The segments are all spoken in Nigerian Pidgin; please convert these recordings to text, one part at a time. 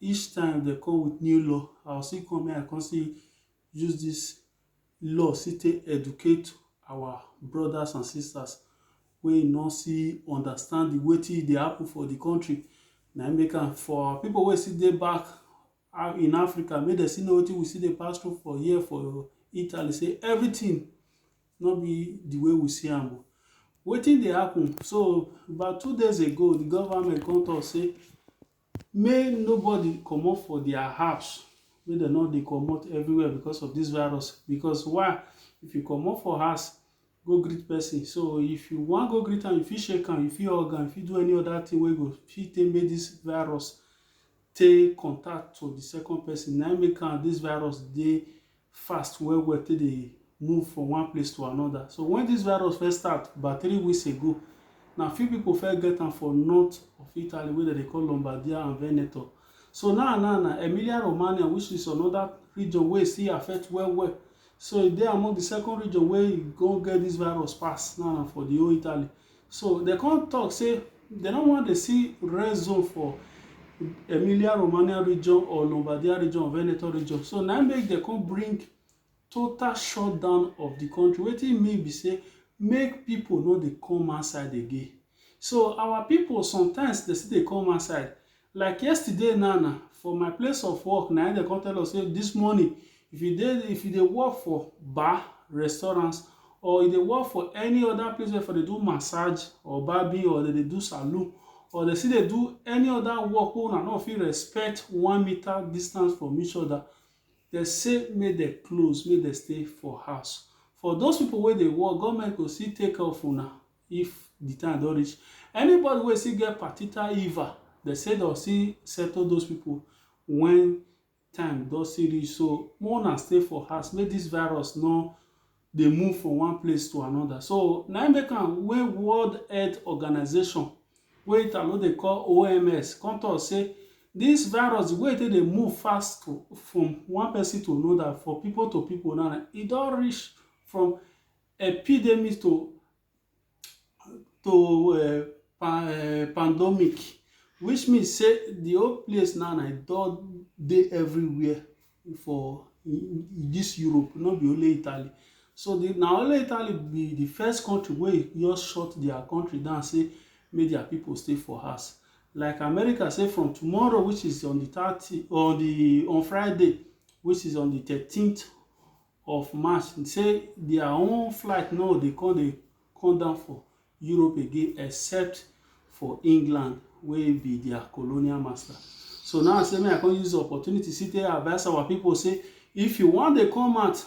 Each time dem come with new law, I go still come, make I come still use this law still take educate our brothers and sisters wey e no still understand the wetin e dey happen for the country. Na im make am for our people wey still dey back in Africa, make dem still know wetin we still dey pass through for here for Italy, say everything no be the way we see am o. Wetin dey happen? So, about two days ago, the government come talk say May nobody comot for their house, make dem no dey comot everywhere because of this virus because why if you comot for house go greet person so if you wan go greet am you fit shake am, you fit hug am, you fit do any other thing wey go fit take make this virus take contact to the second person na him make am this virus dey fast well well take dey move from one place to another so when this virus first start about three weeks ago na few people first get am for north of italy wey dem dey call lombardia and veneto so now now na emilia romagna which is another region wey still affect well well so e dey among the second region wey e go get this virus pass now na for the whole italy So they come talk say they no want to see red zone for Emilia Romagna region or Lombardia region or Veneto region. So now make they come bring total shutdown of the country. What it mean be say make people know they come outside again. So our people sometimes they see they come outside. Like yesterday now na for my place of work na im dem come tell us say this morning if you dey if you dey work for bar, restaurant or you dey work for any other place wey for dey do massage or barbing or dem dey do saloon or dem still dey do any other work wey una no fit respect one meter distance from each other dem say make dem close make dem stay for house for those people wey dey work government go still take care of una if the time don reach anybody wey still get particular iva they say they'll still settle those people when time don still reach so more na stay for house make this virus no dey move from one place to another so na im make am wey world health organization wey italo dey call oms come talk say this virus the way they dey move fast to, from one person to another for people to people now e don reach from Epidemic to to um pan um pandemic which mean sey de whole place now na e don dey everywhere for dis Europe no be only Italy. So de na only Italy be de first country wey e just shut their country down sey make their pipu stay for house. Like America sey from tomorrow which is on de thirty on de on Friday which is on de thirteenth of March say their own flight no dey come dey come down for Europe again except for England wey be their colonial master. So now say me I come use the opportunity see take advise our people say if you wan dey come out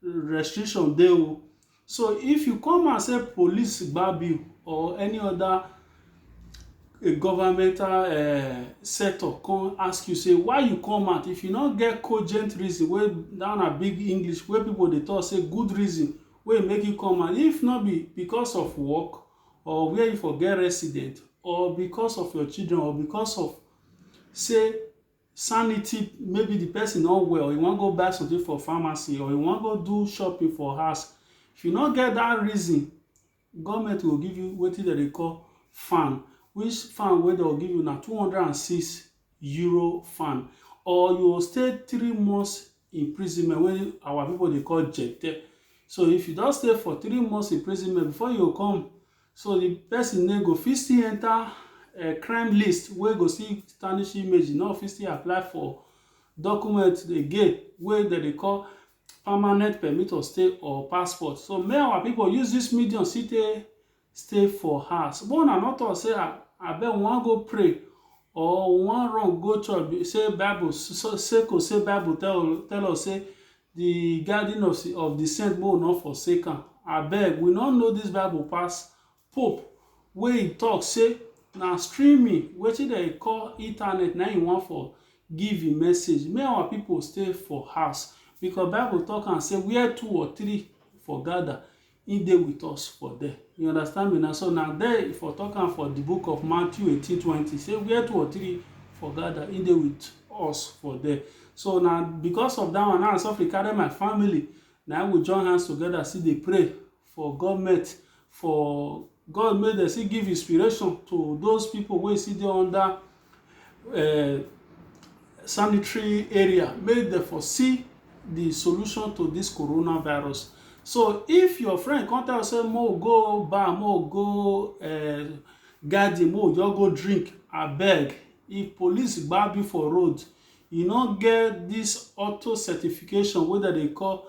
restriction dey o So if you come and say police gbab you or any other governmental um setup come ask you say why you come out if you no get cogent reason wey that na big English wey people dey talk say good reason wey make you come out if no be because of work or where you for get resident or because of your children or because of say sanity maybe the person no well you wan go buy something for pharmacy or you wan go do shopping for house if you no get that reason government go give you wetin dem dey call fan which fan wey dem go give you na two hundred and six euro fan or you go stay three months imprisonment wey our people dey call jete so if you don stay for three months imprisonment before you go come So di pesin name go fit still enta um crime list wey go still tarnish image, e no go fit still apply for document again wey dem dey call permanent permit of stay or passport. So make our pipu use dis medium still take stay for house. Make una no tok sey um abeg we wan go pray or we wan run go church sey bible sey Bible tell tell us sey Di garden of si of di saint make we nor forsake am abeg we nor know dis bible pass pope wey e talk say na streaming wetin dem dey call internet na im e wan for give im message make our people stay for house because bible talk am say where two or three for gather He dey with us for there. You understand me? Na so na there he for talk am for the book of Matthew eighteen twenty say where two or three for gather, he dey with us for there. So na because of that one now I suffer carry my family na we join hands together still dey pray for government for God make dem still give inspiration to those people wey still dey under uh, sanitary area make dem for see the solution to this coronavirus so if your friend come tell you say mo go bar mo go uh, garden mo just go drink abeg if police gbab you for road you no get this auto certification wey dem dey call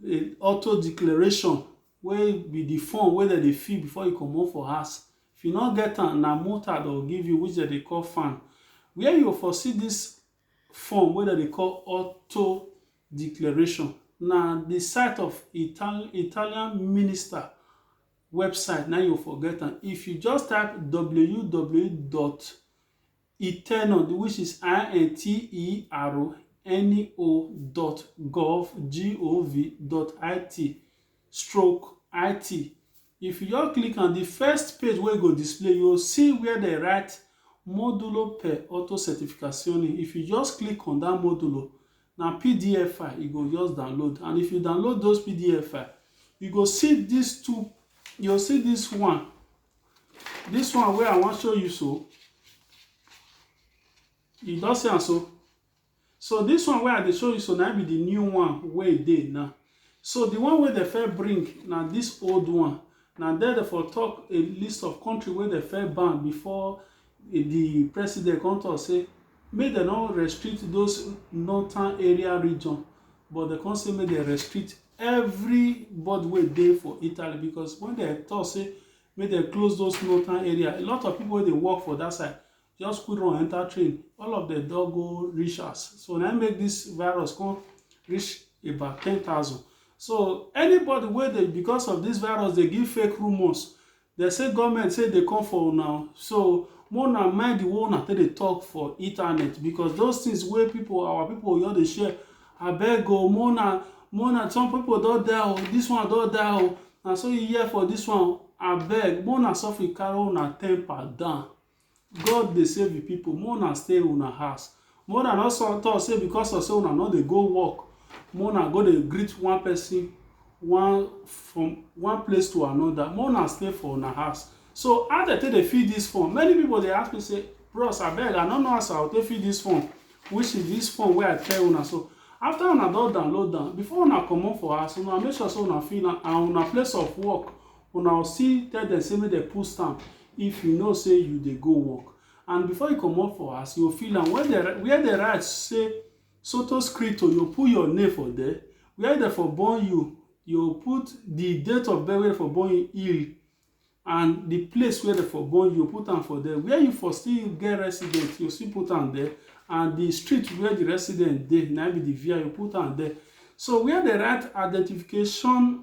uh, auto declaration wey be the form wey dem dey fill before you comot for house If you no get am, na mota dem go give you which dem dey call fan where you for see this form wey dem dey call auto declaration na the site of Italian minister website na you for get am if you just type ww dot Eternal, the which is I-N-T-E-R-N-O.gov.gov.it stroke IT. If you just click on the first page wey go display, you go see where they write Módulo per Autocertificazione. If you just click on that modulo, na PDF file you go just download. And if you download those PDF file, you go see these two, you go see this one this one wey i wan show you so you don see am so so this one wey i dey show you so na be the new one wey e dey now so the one wey dem first bring na this old one na there dem for talk a list of country wey dem first ban before the president come talk say make dem no restrict those northern area region but dem come say make dem restrict everybody wey dey for italy because when they talk say make dem close those northern area a lot of people wey dey work for that side just quick run enter train all of them don go reach us so na make this virus come reach about ten thousand so anybody wey dey because of this virus dey give fake rumours Dem say goment say dey come for una o so make una mind di way una take dey talk for internet because those things wey people our people go just dey share abeg o make una make una some people don die o this one don die o na so you hear for this one o abeg make una sofri carry una temper down God dey save him people, make una stay una house. Make una no so talk say because of say una no dey go work, make una go dey greet one person one from one place to another. Make una stay for una house. So how dem take dey fill this form? Many people dey ask me say, bros abeg I no know as I go take fill this form, which is this form wey I tell una so. After una don download am, before una comot for house, una make sure say una fill am and una place of work Una o see tell dem say make dem put stamp if you know say you dey go work and before you comot for house you fill am where dem where dem write say soto scripto you put your name for there where dem for born you you put the date of birth where dem for born you il and the place where dem for born you put am for there where you for still get resident you still put am there and the street where the resident dey na be the via you put am there so where dem write identification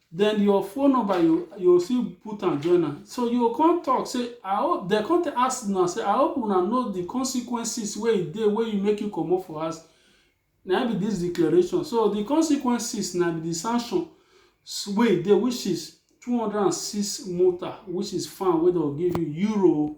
then your phone number you you still put am join am so you go come talk say i hope dem come tell- ask una say i hope una know the consequences wey e dey wey you make you comot for house na im be this declaration so the consequences na be the sanction s- wey e dey which is two hundred and six mota which is fine wey dem go give you euro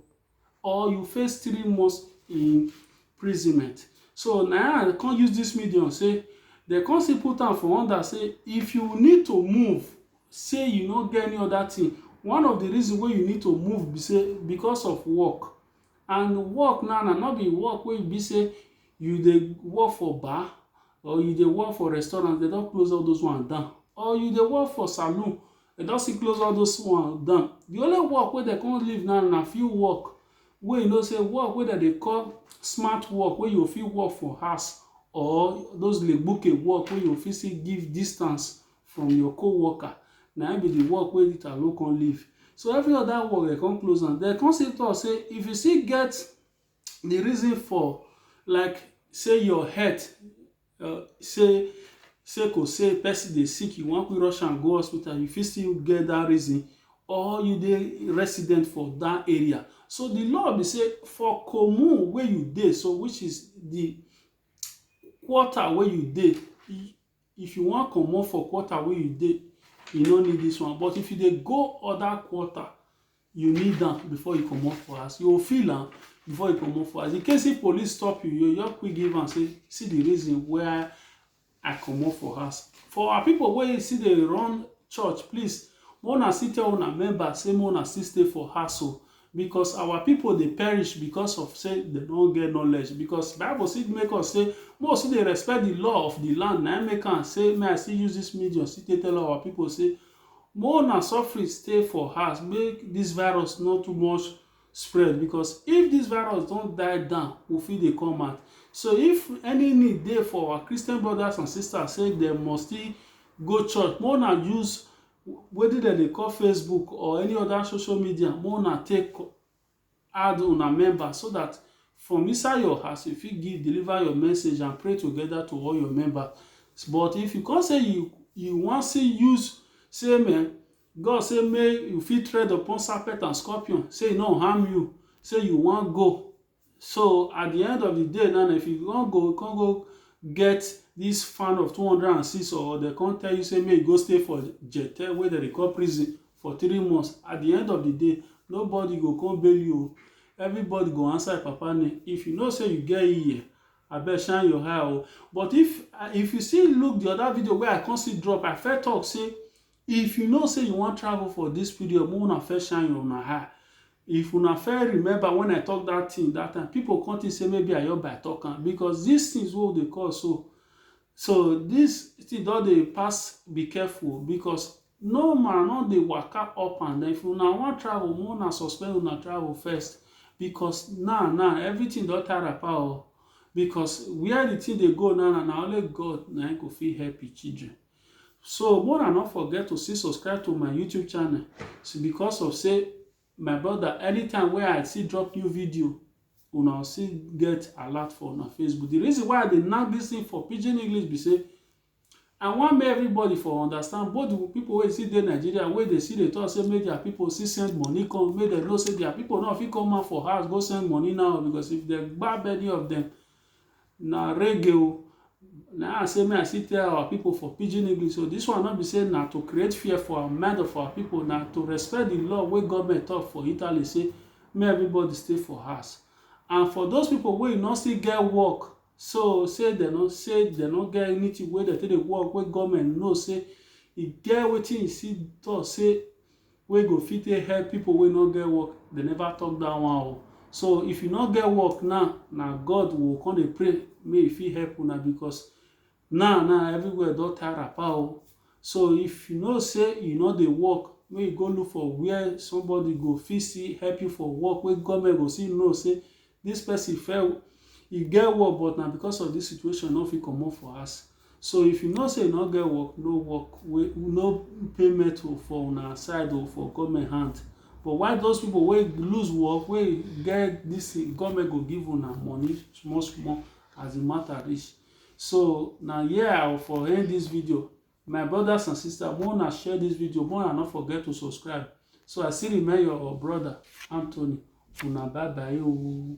or you face three months imprisonment. So na I come use this medium say dem come still put am for under say if you need to move say you no get any other thing one of the reason wey you need to move be say because of work and work now na no be work wey be say you dey work for bar or you dey work for restaurant dem don close all those one down or you dey work for saloon dem don still close all those one down the only work wey dem come leave now na few work wey you know say work wey dem dey call smart work wey you fit work for house or those legbuke work wey you fit still give distance from your co-worker na im be the work wey Italo come leave so every other work dem come close am dem come still talk say if you still get the reason for like say your health Uh, say say cause say person dey sick you wan quick rush am go hospital you fit still get that reason or you dey resident for that area so the law be say for commune wey you dey so which is the quarter wey you dey if you wan comot for quarter wey you dey you no need this one but if you dey go other quarter you need am before you comot for house you go feel am before you comot for house in case if police stop you you just quick give am say see the reason why i comot for house for our people wey still dey run church please make una still tell una member say make una still stay for house o because our people dey perish because of say dem no get knowledge because bible still make us say make we still dey respect the law of the land na im make am say may i still use this medium still take tell our people say Mo una suffering stay for house make this virus no too much spread because if this virus don die down we fit dey come out so if any need dey for our Christian brothers and sisters say dem must still go church mo una use wetin dem dey call Facebook or any other social media mo una take add una members so dat from inside your house you fit give deliver your message and pray together to all your members but if you come say you you wan still use say men God say make you fit tread upon serpent and scorpion say e no harm you say you wan go so at the end of the day now if you wan go you come go get this fan of 206 or dem come tell you say make you go stay for jetel wey dem dey call prison for three months at the end of the day nobody go come bail you o everybody go answer your papa name if you know say you get ear abeg shine your eye o but if if you see look the other video wey i come see drop i first talk say if you know say you wan travel for this period make una first shine your una eye if una first remember when i talk that thing that time people come think say maybe i just by talk am because these things wey we dey call so so this thing don dey pass be careful because No ma no dey waka up and down if una wan travel make una suspend una travel first because now now everything don tie wrapper o because where the thing dey go now now na only God na him go fit help him children so make una no forget to still subscribe to my YouTube channel because of say my brother anytime wey I still drop new video una go still get alert for una Facebook the reason why I dey knack this thing for pidgin English be say I want make everybody for understand both the people wey still dey Nigeria wey dey still dey talk say make their people still send money come make dem know say their people no fit come out for house go send money now because if dem gbab any of them na reggae o na I say make I still tell our people for pidgin English so this one no be say na to create fear for our mind of our people na to respect the law wey government talk for Italy say make everybody stay for house and for those people wey no still get work So say dem no say dem no get anything wey dem take dey work wey government know say e get wetin e see talk say wey go fit take help people wey no get work dem never talk that one o so if you no get work now na God we go come dey pray make e fit help una because Now now everywhere don tie wrapper o so if you know say you no dey work make you go look for where somebody go fit still help you for work wey government go still know say this person fair e get work but na because of this situation no fit comot for house so if you know say you no get work no work wey no payment o for una side o for government hand but why those people wey lose work wey get this thing government go give una money small small as the matter reach so na here i will for end this video my brothers and sisters make una share this video make una no forget to subscribe so i still remain your brother anthony una bye bye ooo.